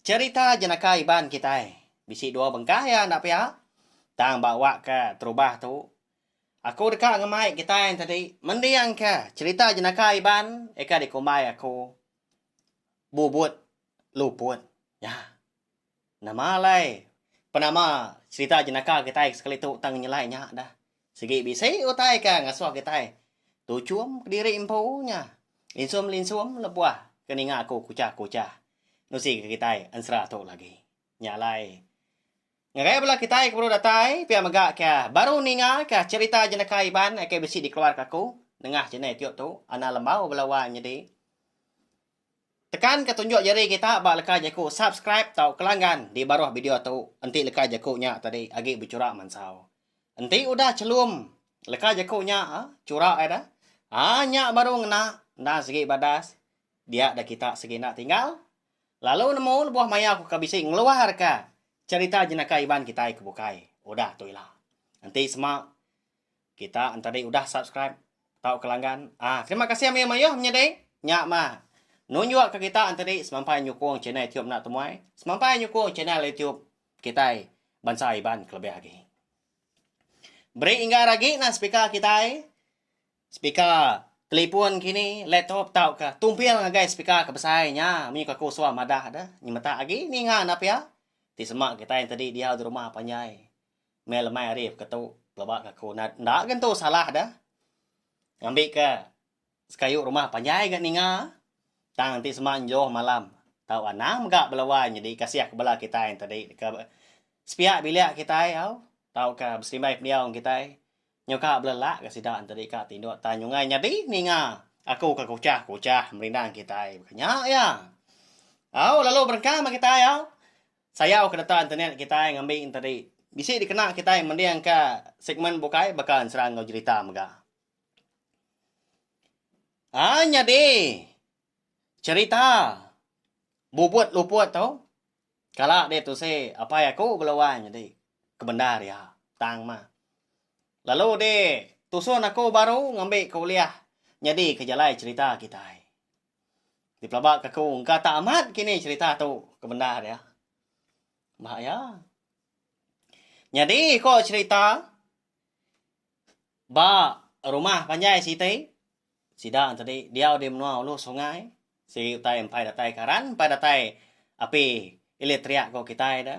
Cherita jenaka Iban kitai bisi dua bengkah iya enda pia tang ba wak ke terubah tu aku deka ngemai kitai entadi mending ke cherita jenaka Iban eka dikumbai aku Bubut Luput nya. Nama alai penama cherita jenaka kitai sekali tu tang nyelai nya dah. Sigi bisi utai ke ngesuh kitai tuchum kediri empu nya linsum-linsum lebuh ke ninga aku kuchah-kuchah nusika kitai ensera tu lagi. Nya alai, ngagai bala kitai ke baru datai pia mega ke baru ningaka cherita jenaka Iban ke bisi dikeluarka aku nengah channel Tio tu, Ana Lembau bala wang nyadi. Tekanka tunjuk jari kita ba leka jaku subscribe tauka langgan di baruh video tu enti leka jaku nya tadi agi bechura mansau. Enti udah chelum leka jaku nya a chura ai dah. A nya baru ngena endang sigi badas dia da kita sigi enda tinggal. Lalu nemu lebuh maya aku ka bisi ngeluarka cherita jenaka Iban kitai ke bukai udah tu ila. Enti sema Kita entadi udah subscribe tau ke langgan. Ah, terima kasih amai mayuh menyadi. Nya mah. Nunjuk ke kita entadi semampai nyukung channel YouTube enda temuai. Semampai nyukung channel YouTube kitai bansa Iban kelebih agi. Beri enggar agi nah speaker kitai. Speaker telefon kini, laptop tau ke tumpil ngagai speaker ke besai nya munyi ke aku suah madah deh. Nyemetak agi ninga enda pia. Ti sema kitai entadi diau di rumah panjai. Meh lemai ari baka tu pelaba ngaku nat enda gen tu salah deh. Ngambi ke sekayu rumah panjai ga ninga tang ti sema enjoh malam tau anang mega bela wai nyadi kasih ke bela kitai enti di deka sepiak bilik kitai au tauka beserimbai pendiau ngan kitai nyau ka bela lak ga sida enti di ka tinduk tang nyungai nyadi ninga aku ka kuchah kuchah merindang kitai. Nya iya. Au lalu berengkang ba kitai au. Sayau ke data internet kitai ngambi enteri bisi dikena kitai mendingka segmen bukai baka ensera enggau jerita mega. Ai nyadi cherita bubut luput tu kala deh tusi apai aku bela wai nyadi kebendar iya tang mah lalu deh tusun aku baru ngambi kuliah nyadi ke jalai cherita kitai. Dipelaba ke aku engka tak amat kini cerita tu ke bendar iya. Bah iya. Nyadi ko cerita ba rumah panjai siti sida tadi diau di menua ulu sungai siri utai empai datai karan empai datai api elektrik ko kitai da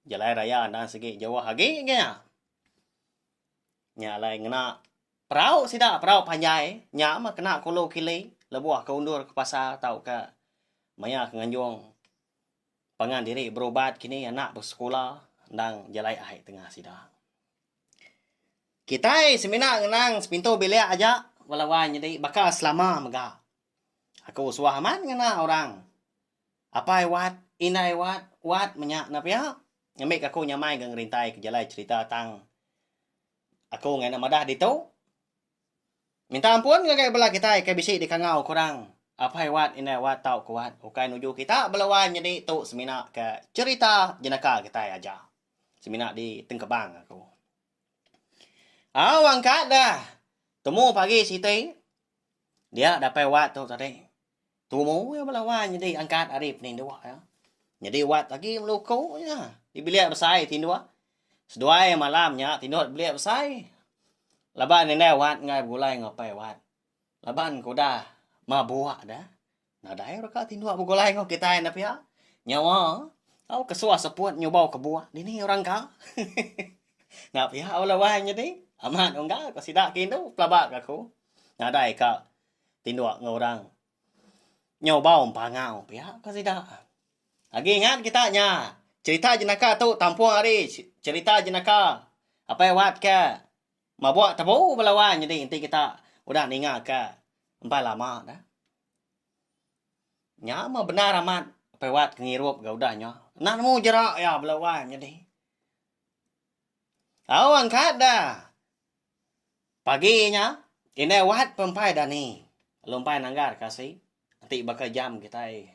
jalai raya enda sigi jauh agi nya. Nya alai ngena perau sida, perau panjai. Nya mah kena ke ulu kili lebuh ke undur ke pasar tauka maya ke nganjung pangan diri berubat kini anak besekula endang jalai ai tengah sida. Kitai semina ngenang sepintu bilik aja bala wai nyadi baka selama mega. Aku suah amat ngena orang. Apai wat, indai wat, wat menya enda pia ngambika aku nyamai enggau ngerintai ke jalai cherita tang aku ngagai enda madah ditu. Minta ampun ngagai bala kitai ke bisi dikangau ke orang. Apai wat, indai wat tau ke wat ukai nuju kita bala wai nyadi tu semina ke cherita jenaka kitai aja. Semina di Tengkebang aku. Au angkat dah temu pagi siti dia dapai wat tu tadi. Tumu iya bala wan nyadi angkat ari penindu iya. Nyadi wat agi meluku iya di bilik besai ti indu. Seduai malam nya ti indu bilik besai laban indai wat enggai begulai enggau apai wat laban ke udah mabuk dah nadai ira ka ti indu begulai enggau kitai enda pia nyawa tau ke suah seput nyubau kebuah dini orang ka hehehe enda pia bala wan nyadi amat unggal ko sida ke indu pelaba ka aku nadai ka. tinduk enggau orang nyau bau empangau pia ka sida. Agi ingat kita nya cerita jenaka tu tampung ari cerita jenaka apai wat ke mabuk tebu bala wang nyadi enti kita udah ninga ka empai lama dah. Nya mah bendar amat apai wat ke ngirup ga udah nya. Enda nemu jera iya bala wang nyadi. Au angkat da. Pagi nya, indai wat pempai dani lumpai nanggar ke asi enti baka jam kitai.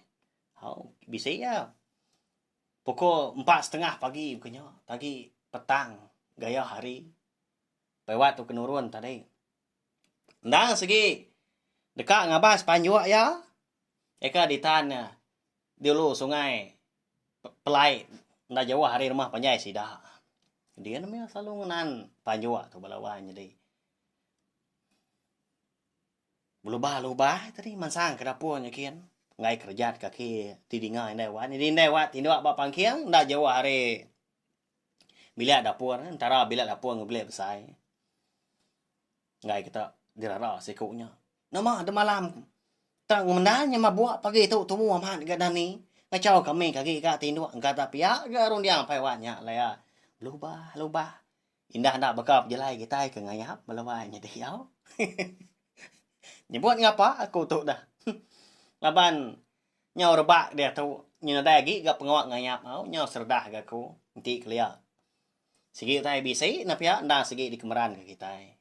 Au, bisi iya. Pukul empat setengah pagi bukai nya, pagi petang gaya hari. Pai wat tu ke nurun tadi. Endang sigi deka ngabas panjuk iya, eka ditan iya. Dulu sungai Pelai enda jauh ari rumah panjai sida. Din mih selalu ngenan panjua tu bala wang nyadi. Belubah lubah tadi mansang ke dapur nyikin enggai kereja ti kaki ti dinga indai wang. Nyadi indai wang tinduk ba pangking enda jauh ari bilik dapur entara bilik dapur enggau bilik besai. Enggai kita dirara siku nya. Nama de malam tang mendai nya mabuk pagi tu tumu amat ga dani ngachau ka ami agi ga tinduk engka da pia ga runding mpai wak nya alai a belubah lubah inda enda baka pejalai kitai ke ngayap belawai nya diau nyebut ngapa aku tu dah laban nyau rebak diatu nya nadai agi ga pengawa ngayap au nyau seredah ga aku enti kelia sigi utai bisi na pia enda sigi dikemeran ga kitai.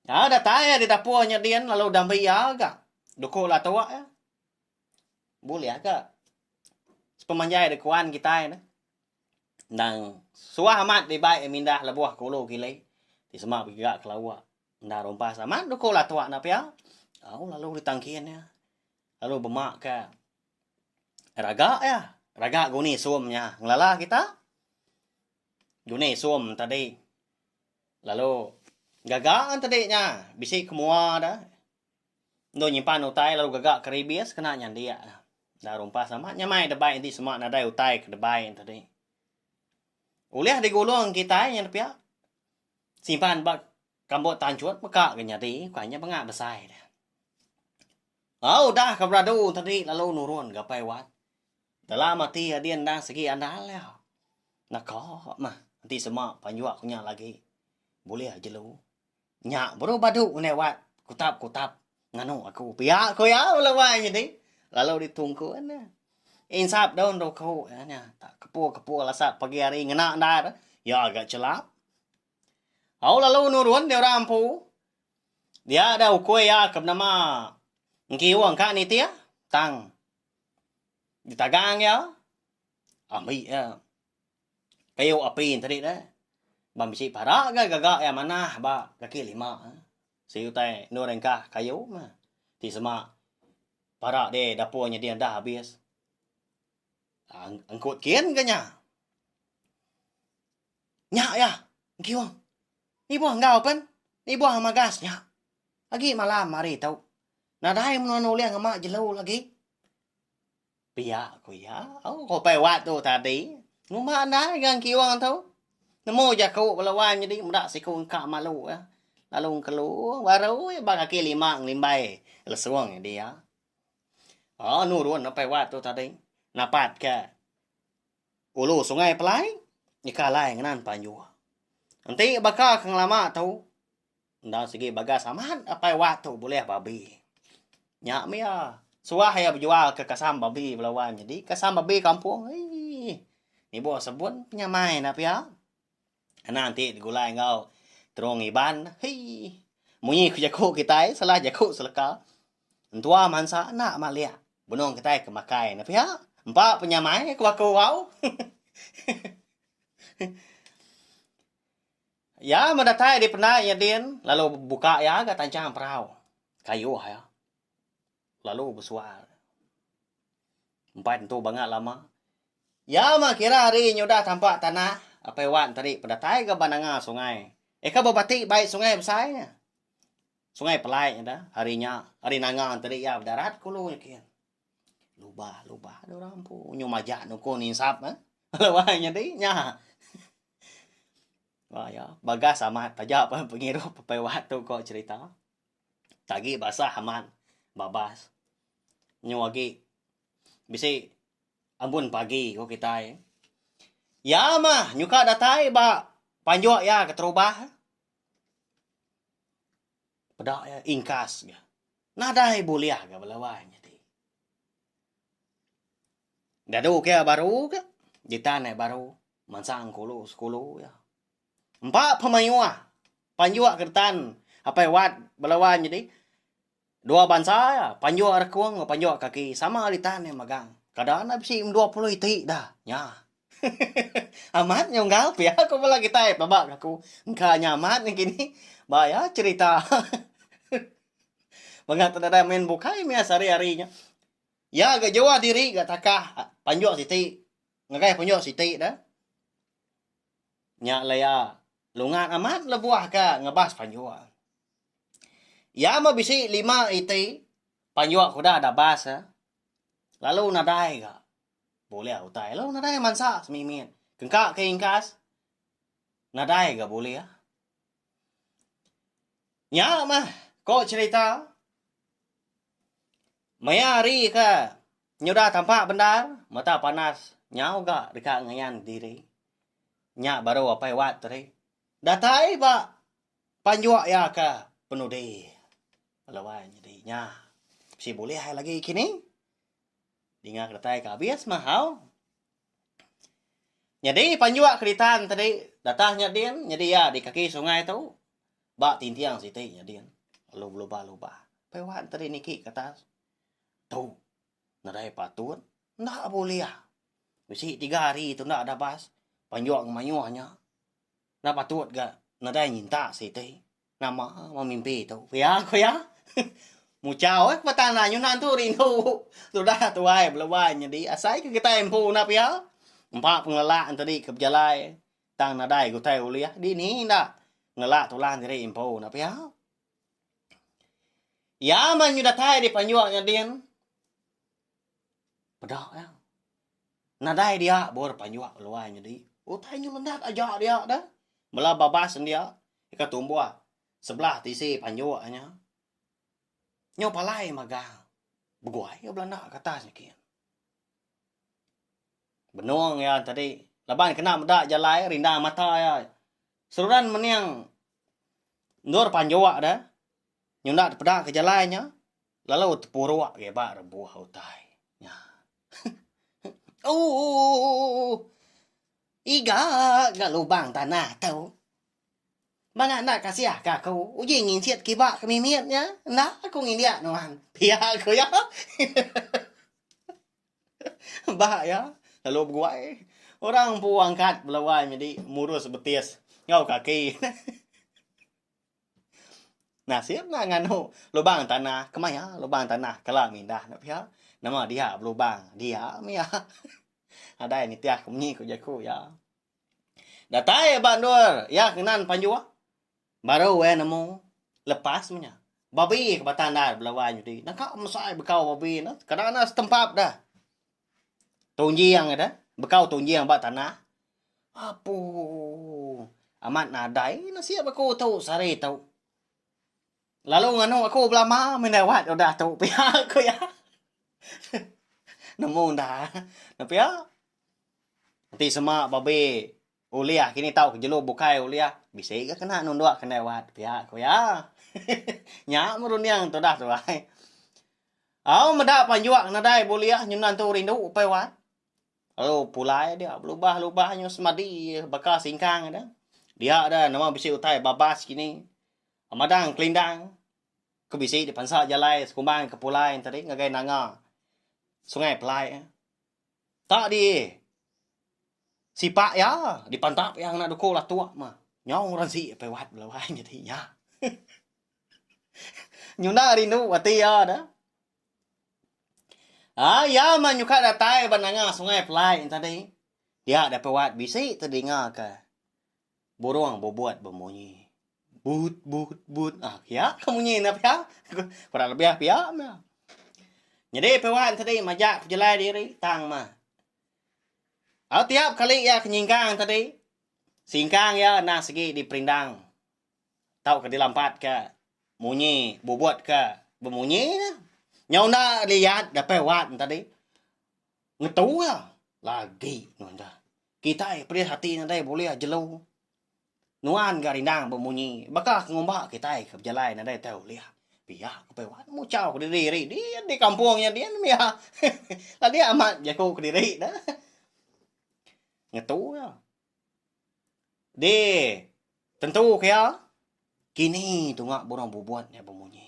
Au datai iya didapur nya din lalu udah meri iya ga duku latok iya. Bulih aga sepemanjai dikuan kitai ne endang suah amat dibai iya mindah lebuh ke ulu ke ilih ti sema begiga ke lawa enda rumpas amat duku latok enda pia au lalu ditangkin iya lalu bema ka raga iya raga guni sum nya ngelala kita. Dune isum tadi lalu gaga an tadi nya bisi ke mua da endo nyimpan utai lalu gaga ke ribis kena nyandik da enda rumpas amat nya mai da bai enti sema nadai utai ke dabai nya tadi. Ulih digulung kitai nya pia simpan ba kambut tanchut meka ga nyadi bukai nya banga besai da. Au udah ke beradu tadi lalu nurun ga pai wat. Dalam ati adi endang segi andal iya. Naka mah enti sema panjua ku nya lagi bulih jelu. Nya baru badu ngendai wat kutap-kutap nganu aku pia ku iya bala wai nyadi lalu ditungkun iya. Insap daun ruku iya nya kepu-kepu lasa pagi hari ngena endar iya ga chelap. Au lalu nurun dei orang empu dia ada ukoi iya ke benama engkiung ka nitih tang Ditagang iya, ambi iya. Piyuk api enti ari deh. Ba bisi parak ga gaga iya manah ba kaki lima. Siti utai endur ringkah kayu meh. Ti sema parak di dapur nyadi andah abis. Engkut kin ga nya. Nya iya engkiung. Ibuh enggau pen. Ibuh magas nya. Agi malam hari tu. Nadai menua nulih ngema jelu agi. Pia ku iya. Au kopai wak tu tadi. Nguma andai ga engkiung tu. Nemu jaku bala wan nyadi meda siku engka malu ga. Lalu engkelu baru iya ba kaki lima ngelimbai lesung iya dia. Au nurun apai wak tu tadi. Napat ka ulu sungai pelai nyeka alai ngenan panjua. Enti baka ke ngelama tu. Enda sigi bagas amat apai wak tu bulih babi. Nya mia suah iya bejual ke kasam babi bala wan nyadi kasam babi kampung eii nibuh sebun penyamai enda pia. Kena enti digulai enggau terong iban eii munyi ku jaku kitai salah jaku seleka entua mansa enda malik benung kitai ke makai enda pia empa penyamai ku aku au. Iya medatai di penda iya din lalu buka iya ga tanchang perau kayuh iya lalu besual. Empai tentu banga lama. Iya mah kira ari nyudah tampa tanah apai wan tadi bedatai ga ba nanga sungai. Eka bebati bai sungai besai nya. Sungai Pelai nya da hari nya ari nanga tadi iya bedarat ke ulu nya kin. Lubah, lubah ada orang empu. Nyu majak nuko ninsap eh. Kalau wah nyadi nya. Wah ya, bagas amat taja pun pengirup pepai wah tu ko cerita. Tagi basah amat babas. Nyu agi bisi ambun pagi ko kitai. Ya mah nyuka datai ba panjuk ya keterubah. Peda iya ingkas ga. Nadai bulih ga bala wai nya ti. Dadu ke iya baru ga, ditan iya baru mansang kulu sekulu iya. Empa pemayuh panjuk getan apai wat bala wai nyadi dua bansa iya, panjuk rekung enggau panjuk kaki sama ditan iya magang. Kada enda bisi dua puluh iti dah. Nya. Hehehe amat nya unggal pia ku bala kitai pelaba ka aku engka nya amat nengkini ba iya cerita mega ku nadai main bukai meh sehari-hari nya iya ga juah diri ga takah panjuk siti ngagai panjuk siti dah nya lah iya lungat amat lebuh ka ngebas panjuk iya meh bisi lima iti panjuk ke udah da bas lalu nadai ga. Boleh utai lo nadai mansa semimit kengka ke ingkas nadai ga boleh. Nya mah ko cherita maya hari ke nyudah tampa bendar mata panas nyau ga deka ngayan diri nya baru apai wat tadi datai ba panjok iya ke penudi lawan nya bisi bulih lagi kini. Dinga keretai ke abis mahau. Nyadi panjua keritan tadi datah nya din, nyadi iya di kaki sungai tu ba tintiang siti nya din. Lalu belubah-lubah. Pai wan tadi niki ke atas. Tu nadai patut, enda bulih. Bisi tiga hari tu enda dabas, panjua ngemayuh nya. Enda patut ga nadai nyintak siti. Nama meh mimpi tu ku iya ku iya. Muchau ai ke tanah nyunan tu rindu tudah tuai belebai nyadi asai ke kitai empu nap iya. Empa pengelala entadi ke bejalai tang nadai utai ulih dini enda ngelala tulang diri empu nap iya. Iya meh nyu datai dipanjuk nyadin. Peda iya. Nadai dia bor panjua keluai nyadi. Utai nyun mendap aja dia dah. Bala babas dia ika tumbuh sebelah tisi panjua nya. Nyau palai magang. Begua iya belanda ke atas niki. Benung iya tadi laban kena meda jalai rindang mata iya. Seruran mening endur panjua dah nyunda peda ke jalai nya. Lalu tepuruk iya ba rebuh utai nya. Ooh! Iga ga lubang tanah tu. Mangga enda kasih ka aku uji nginsit kiba ke mimit nya. Enda aku ngindik nuan. Pia ku iya. Ba iya lalu beguai. Orang empu angkat belawai nyadi murus betis enggau kaki. Nasib nya nganu lubang tanah kemaya lubang tanah kala mindah nya pia nama dia belubang dia mia nadai nitih ku munyi ku jaku iya. Datai ba endur iya ke nan panjuah baru iya nemu lepas meh nya babi ke bata ndai belawa nyadi naka mesai bekau babi ne kada ne setempap deh. Tonjiang kada, bekau tonjiang ba tanah. Apu. Amat nadai nasib aku tu sehari tu. Lalu nganu aku belama meh dawat udah tu pia ku iya. Nemu enda. Nya pia. Enti sema babeh. Ulih kini tau ke jelu bukai ulih bisi ga kena nundok ke endai wat pia ku iya. Nya merunding tudah tu ai. Au meda panjung nadai bulih nyunan tu rindu upai wat. Lalu pulai dia belubah-lubah nyu semadi baka singkang ada. Dia ada nama bisi utai babas kini. Madang kelindang ke bisi dipansa jalai sekumbang ke pulai tadi ngagai nanga Sungai Pelai. Tang di sipak iya di pantap iya ngena duku latuk mah nyong rensi piwat belawai nyadi nya. Nyuna rindu ati iya da. Ai iya mah nyuka datai ba nanga Sungai Pelai enti tadi. Dia deh piwat bisi tedinga ka Burung bubut bemunyi. But but but. Ah, pia ke munyi enda pia? Kurang lebih pia meh. Nyadi piwan tadi majak pejelai diri tang meh. Au tiap kali iya ke nyingkang tadi, singkang iya enda sigi diperindang tauka dilampatka munyi bubut ke bemunyi nya. Nyau enda liyat dapai wan tadi ngetu iya lagi nunda. Kitai pedis ati nadai bulih jelu. Nuan ga rindang bemunyi baka ke ngumba kitai ke bejalai nadai utai ulih. Pia ku Pei Wan muchau kediri iri dian di kampung nya dian mia adik amat jaku kediri ne. Ngetu iya. Di tentu ke iya kini tunga burung bubut nya bemunyi.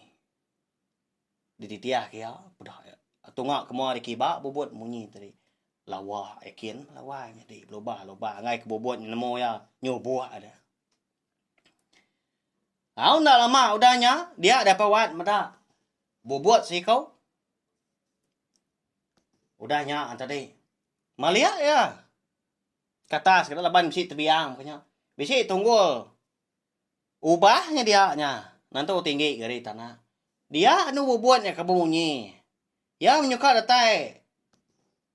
Dititiahka iya peda iya. Tunga ke mua dikiba bubut munyi tadi. Lawa ikin lawa nyadi belubah lubah angai ke bubut nemu iya nyubuk deh. Au enda lama udah nya dia deh apai wat meda bubut seiku. Udah nya tadi meliak iya ke atas laban bisi tebiang ke nya. Bisi tunggul Ubah nya dia nya nentu tinggi geri tana. Dia anu bubut nya ke bemunyi. Iya menyuka datai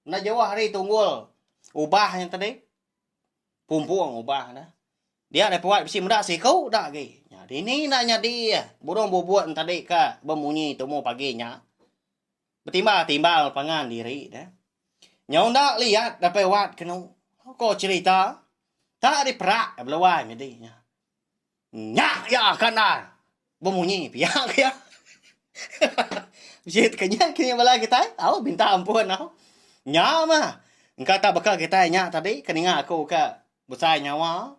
enda jauh ari tunggul ubah nya tadi. Pumpung ubah nya. Dia dai puat bisi meda siku da agi. Dini enda nyadi burung bubut nya tadi ka bemunyi tumu pagi nya. Betimba timbal pangan diri ne. Nyau enda liat dapai wat kenu. Ko cerita ta diperak ke beluai nyadi nya. Nya ya kandar bemunyi pia ke ya. Bisi ke nya ke bala kitai au minta ampun au. Nya mah engka ta baka kitai nya tadi ke ninga aku ka besai nyawa.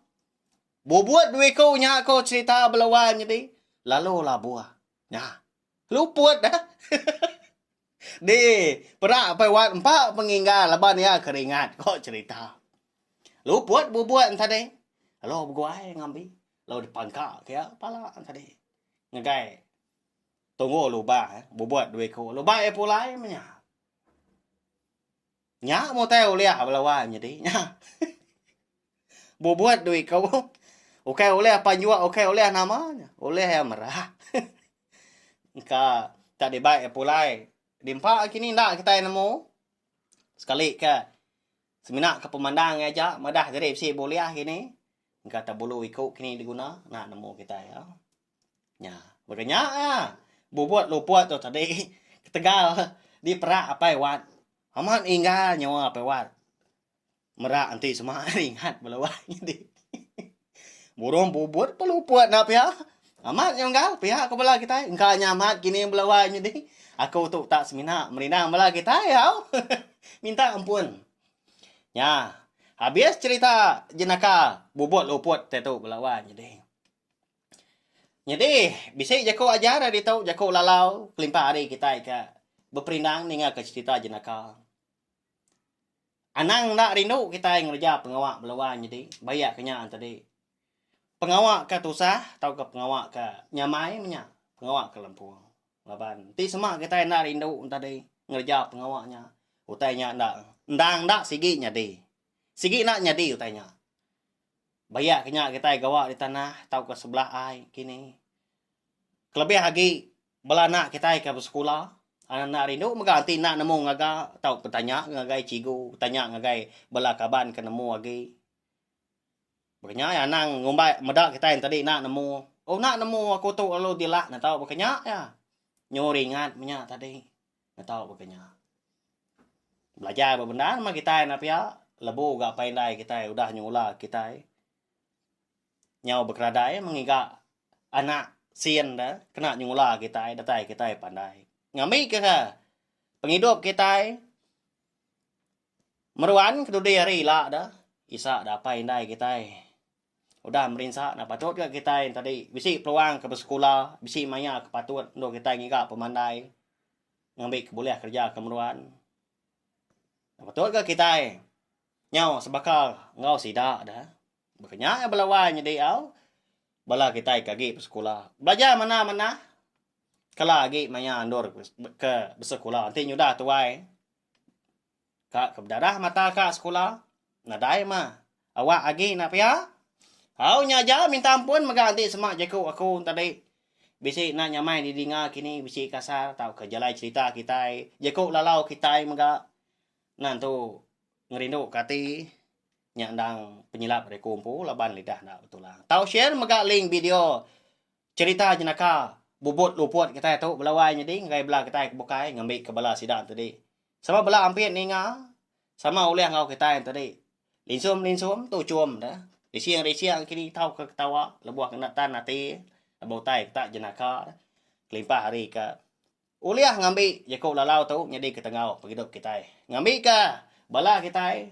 Bubut dua iku nya ko cerita beluai nyadi lalu labuh. Nya. Luput dah. Dee, perak apai wat empa penginggar laban iya keringat ko cerita. Luput bubuk entadi. Lalu beguai ngambi. Lalu dipangka ke iya pala entadi. Ngagai tunggu lubang bubuk dua iku. Lubang iya pulai menya. Nya mutai ulih bala wa nyadi nya. Bubut dui ko. Ukai ulih pan jua ukai ulih nama nya. Ulih ya merah. Engka tak dibai ya pulai. Dimpa kini enda kitai nemu. Sekali ke semina ke pemandang nya aja madah jadi bisi buliah kini. Engka tak bulu iku kini diguna nak nemu kitai ya. Nya, baka nya iya. Bubut lupuk tu tadi ketegal diperak apai wat. Amat inggar nyawa apai wat. Merak enti sema ari ingat bala wak nyadi. Burung bubut pun lupuk enda pia. Amat nya enggal pia ku bala kitai. Engka nya amat kini bala wak nyadi. Aku tu utak semina merindang bala kitai au. Minta ampun. Nya, habis cherita jenaka bubut lupuk te tu bala wak nyadi. Nyadi, bisi jaku ajar ari ditu, jaku lalau kelimpah ari kitai ke beperindang ningaka cherita jenaka. Anang enda rindu kitai ngereja pengawa belua nyadi bayak ke nya tadi. Pengawa ke tusah tauka pengawa ke nyamai menya pengawa ke lempung. Laban ti sema kitai enda rindu tadi ngereja pengawa nya, utai nya enda endang enda sigi nyadi. Sigi enda nyadi utai nya. Bayak ke nya kitai gawa di tanah tauka sebelah ai kini. Kelebih agi bala anak kitai ke besekula, anak-anak rindu mega enti enda nemu ngaga tauka betanya ngagai cigu, betanya ngagai bala kaban ke nemu agi. Baka nya iya anang ngumbai meda kitai yen tadi enda nemu. Oh enda nemu aku tu lalu dilah ne tau baka nya iya. Nyu ringat menya tadi. Ngetau baka nya. Belajar ba bendar meh kitai enda pia lebu ga apai indai kitai udah nyengula kitai nyau bekeradai mengiga anak sin deh kena nyengula kitai datai kitai pandai. Ngambi ke ke pengidup kitai meruan kedudi hari ila deh isa deh apai indai kitai. Udah merinsa enda patut ga kitai tadi bisi peluang ke besekula, bisi maya ke patut endur kitai ngiga pemandai ngambi ke bulih kereja ke meruan. Enda patut ga kitai nyau sebaka enggau sida da. Baka nya iya bala wai nyadi au bala kitai ke agi besekula. Belajar manah-manah kala agi maya endur ke besekula enti nyudah tuai. Ka ke bedadah mata ka sekula nadai mah awak agi enda pia. Au nya aja minta ampun mega enti sema jaku aku tadi bisi enda nyamai di dinga kini bisi kasar tauka jalai cerita kitai jaku lalau kitai mega nan tu ngerindu ka ati nya endang penyilap ari aku empu laban lidah enda betulang. Tau share mega link video cerita jenaka bubut luput kitai tu belawai nyadi ngagai bala kitai ke bukai ngambika bala sida tadi Sama bela ampit ninga sama ulih enggau kitai enti di linsum linsum tu chum da rising rising kini tau ke ketawa lebuh ke enda tan ati ba utai ke tak jenaka da kelimpah ari ke ulih ngambi jaku lalau tu nyadi ketenggau pengidup kitai ngambi ka bala kitai.